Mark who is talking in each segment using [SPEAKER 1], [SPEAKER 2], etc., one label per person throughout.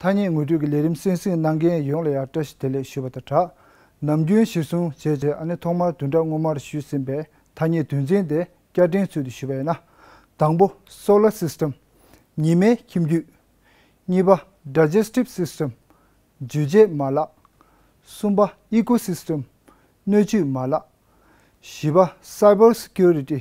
[SPEAKER 1] ཐ་སྙད་ངོ་སྤྲོད་ཀྱི་ལས་རིམ་གསན་གཟིགས་གནང་མཁན་ཡོངས་ལ་ཡང་བཀྲ་ཤིས་བདེ་ལེགས་ཞུ་བ་དང་སྦྲགས། ནམ་རྒྱུན་གཞིར་བཟུང་བྱས་རྗེས་ཨ་ནེ་ཐོག་མར་དུས་འདྲ་སྔོན་མར་ཞུས་ཟིན་པའི་ཐ་སྙད་དོན་ཚན་དེ་བསྐྱར་དྲན་ཚུལ་དུ་ཞུ་བ་ཡིན་ན། དང་པོ། Solar System། ཉི་མའི་ཁྱིམ་རྒྱུད། གཉིས་པ། Digestive System། འཇུ་བྱེད་མ་ལག། གསུམ་པ། Ecosystem། སྣོད་བཅུད་མ་ལག། བཞི་པ། Cyber Security།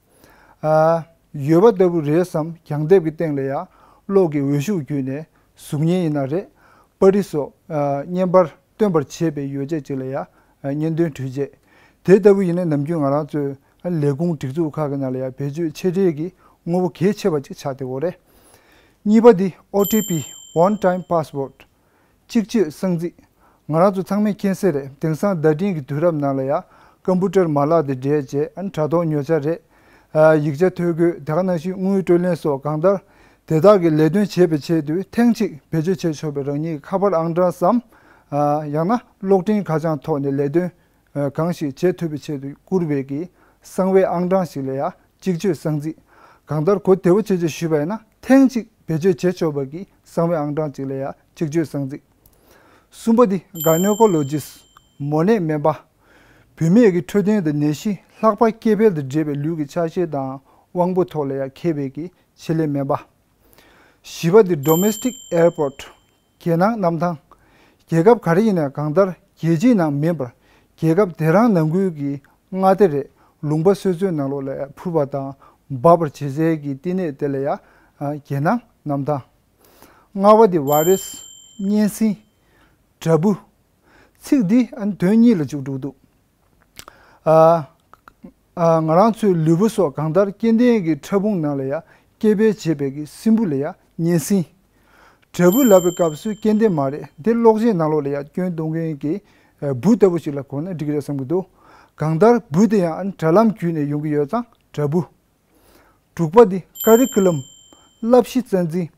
[SPEAKER 1] ཡོད་པ་ལྟ་བུ་རེད་བསམ་གྱང་ལྡེབས་ཀྱི་སྟེང་ལ་ཡང་གློག་གི་འོད་ཤུགས་བརྒྱུད་ནས་གཟུགས་བརྙན་ཡིན་ན་རེད་པར་རི་སོགས་བརྙན་པར་སྟོན་པར་བྱེད་པའི་ཡོ་བྱད་ཅིག་ལ་ཡང་བརྙན་འདོན་འཕྲུལ་ཆས་དེ་ལྟ་བུ་ཡིན་ན་ནམ་རྒྱུན་ང་རང་ཚོའི་ལས་ཁུངས་སྒྲིག་འཛུགས་ཁག་གི་ནང་ལ་ཡང་བེད་སྤྱོད་ཆེ་གྲས་ཀྱི་དངོས་པོ་གལ་ཆེ་བ་ཅིག་ཆགས་ཏེ་འོ་རེད། གཉིས་པ་འདི OTP One Time Password། གཅིག་ཆོས་གསང་ཚིག། ང་རང་ཚོ་ཚང་མས་མཁྱེན་གསལ་རེད་དེང་སང་བརྡ་འཕྲིན་གྱི་དུས་རབས་ནང་ལ་ཡང་ཀམ་པུ་ཏར་མ་ལག་དེ་འདྲའི་རྗེས་ཨ་ནི་དྲ་ཐོག་ཉོ་བྱ་རེད། ཡིག་ཆ་ཐོ་འགོད་དེ་ག་ནང་བཞིན་དངུལ་སྤྲོད་ལེན་སོགས་གང་ལྟར། དེ་དག་གི་ལས་དོན་བྱེད་པའི་ཆེད་དུ་ཐེངས་གཅིག་བེད་སྤྱོད་བྱས་ཆོག་པའི་རང་ཉིད་ཀྱི་ཁ་པར་ཨང་གྲངས་སམ། ཡང་ན་གློག་འཕྲིན་ཁ་བྱང་ཐོག་ནས་ལས་དོན་གང་ཞིག་རྗེས་ཐོབ་པའི་ཆེད་དུ་བསྐུར་བས་ཀྱི་གསང་བའི་ཨང་གྲངས་ཤིག་ལ་ཡང་གཅིག་ཆོས་གསང་ཚིག་གང་ལྟར་གོ་བདེ་བོ་ཆེ་ཆེ་ཞུས་པ་ཡིན་ན་ཐེངས་གཅིག་བེད་སྤྱོད་བྱེད་ཆོག་པར་ཀྱི་གསང་བའི་ཨང་གྲངས་གཅིག་ལ་ཡང་གཅིག་ཆོས་གསང་ཚིག། གསུམ་པ་འདི Gynaecologists། མོ་ནད་སྨན་པ། བུད་མེད་ཀྱི་འཕྲོད་བསྟེན་དང་ནད་གཞི་ལྷག་པར་སྐྱེ་འཕེལ་དང་འབྲེལ་བའི་ལུས་ཀྱི་ཆགས་ཞེན་དང་དབང་པོ་ཐོག་ལ་ཡང་མཁས་པའི་ཀྱི་ཆེད་ལས་སྨན་པ། བཞི་པ་འདི Domestic Airport། རྒྱལ་ནང་གནམ་ཐང། རྒྱལ་ཁབ་ག་རེ་ཡིན་ནས་གང་ལྟར་རྒྱལ་སྤྱིའི་ནང་མིན་པར་རྒྱལ་ཁབ་དེ་རང་ནང་ཁུལ་གྱི་མངའ་སྡེ་རེད་ལུང་པ་སོད་ཚོད་ནང་ལོག་ལས་འཕུར་བ་དང་འབབ་པར་བྱེད་སའི་གི་བསྟི་གནས་དེ་ལ་ཡ། རྒྱལ་ནང་གནམ་ཐང། ལྔ་བ་དེ Virus། གཉན་སྲིན། དྲ་འབུ། ཚིག་འདི་ཨ་ནི་དོན་གཉིས་ལ་འཇུག་འགྲོ་གི་འདུག། ང་རང་ཚོའི་ལུས་པོ་སོགས་གང་ལྟར་སྐྱེ་ལྡན་གྱི་ཕྲ་ཕུང་ནང་ལ་ཡང་སྐྱེ་འཕེལ་བྱེད་པའི་གི་སྲིན་བུ་ལ་ཡང་གཉན་སྲིན། དྲེལ་བུ་ལབ་པའི་སྐབས་སུ་སྐྱེ་ལྡན་མ་རེད་འདི་གློག་བཞིན་ནང་ལོགས་ལ་ཡང་སྐྱོན་གཏོང་མཁན་གྱི་བུ་ལྟ་བུ་ཞིག་ལ་གོ་ན་འགྲིག་རེད་བསམ་གྱི་འདུག་གང་ལྟར་བུ་དེ་ཡང་དྲ་ལམ་བརྒྱུད་ནས་ཡོང་གི་ཡོད་ཙང་དྲ་འབུ། དྲུག་པ་དེ Curriculum། བསླབ་གཞི་རྩ་འཛིན།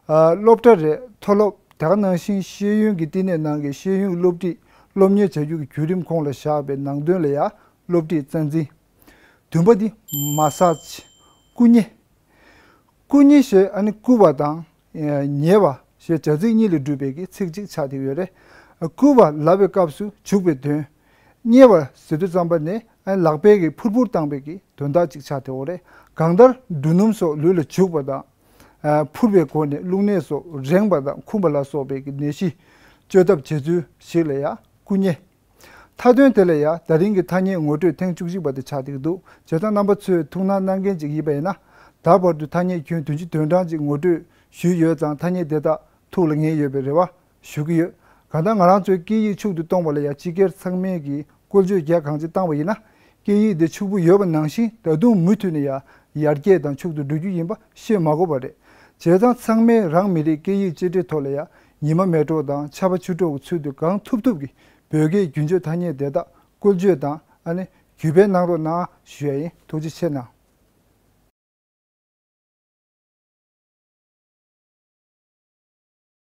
[SPEAKER 1] སློབ་གྲྭ་རེར་མཐོ་སློབ་དག་སྣང་ཞིང་ཤེས་ཡོན་གྱི་བསྟི་གནས་ནང་གི་ཤེས་ཡོན་སློབ་ཁྲིད་སློབ་གཉེར་བྱ་རྒྱུ་གི་བརྒྱུད་རིམ་ཁོངས་ལ་བཞག་པའི་ནང་དོན་ལ་ཡང་སློབ་ཁྲིད་རྩ་འཛིན། བདུན་པ་དེ Massage། བཀུ་མཉེ། བཀུ་མཉེ་ཞེས་ཨ་ནི་བཀུ་བ་དང་ཉེ་བ་ཞེས་བྱ་ཚིག་གཉིས་ལས་གྲུབ་པའི་ཚིག་གཅིག་ཆགས་ཏེ་ཡོད། བསྐུལ་བ་ལ་བའི་སྐབས་སུ་བྱུག་པའི་དོན། བསྙལ་བ་ཟེ་དུ་རྩམ་པ་ནས་ལག་པས་ཀྱིས་ཕུར་ཕུར་བཏང་བའི་དོན་དག་ཅིག་ཆགས་ཏེ་འོ། གང་ལྟར་འབྲུ་སྣུམ་སོགས་ལུས་ལ་བྱུག་པ་དང། ཕུར་པའི་སྒོ་ནས་རླུང་ནད་སོགས་རེངས་པ་དང་འཁུམས་པ་ལ་སོགས་པའི་ནད་གཞི་བཅོས་ཐབས་བྱེད་ཚུལ་ཞིག་ལ་ཡང་བསྐུལ་ཉེ། མཐའ་དོན་དེ་ལ་ཡ་ད་རིང་གི་ཐ་སྙད་ངོ་སྤྲོད་ཐེངས་བཅུ་བཞི་པ་དེ་ཆགས་འདུག་འདུག་བྱེ་བྲག་རྣམ་པ་ཚོས་ཐུགས་སྣང་གནང་མཁན་ཅིག་ཡིན་པ་ཡིན་ན། ད་བར་དུ་ཐ་སྙད་ཁྱོན་དུ་ཅི་དོན་གྲངས་ཅིག་ངོ་སྤྲོད་ཞུས་ཡོད་ཙང་ཐ་སྙད་དེ་དག་ཐུགས་ལ་ངེས་ཡོད་པའི་རེ་བ་ཞུ་གི་ཡོད། གང་ལྟར་ང་རང་ཚོས་སྐད་ཡིག་ཕྱུག་ཏུ་གཏོང་བ་ལ་ཡ་སྤྱི་སྒེར་ཚང་མས་ཀྱིས་བཀོལ་སྤྱོད་རྒྱ་གང་ཅི་བཏང་བ་ཡིན་ན། སྐད་ཡིག་དེ་ཕྱུག་པོ་ཡོད་པ་ནང་བཞིན་ད་དུང་མུ་མཐུད་ནས་ཡ་ཡར་རྒྱས་དང་ཕྱུག་ཏུ་འགྲོ་རྒྱུ་ཡིན་པ་ཤེས་མ་གོ་བ་རེད། བྱས་ཙང་ཚང་མས་རང་མི་རིགས་སྐད་ཡིག་གཅེས་སྤྲས་ཐོག་ལ་ཡ་ཉི་མ་མེ་གྲོགས་དང་ཆར་པ་ཆུ་གྲོགས་ཀྱི་ཚུལ་དུ་གང་ཐུབ་ཐུབ་ཀྱིས་བོད་སྐད་རྒྱུན་སྤྱོད་ཐ་སྙད་དེ་དག་བཀོལ་སྤྱོད་དང་ཨ་ནི་གུས་པས་གནང་རོགས་གནང་ཞུ་ཡ་ཡིན་ཐུགས་རྗེ་ཆེ་གནང།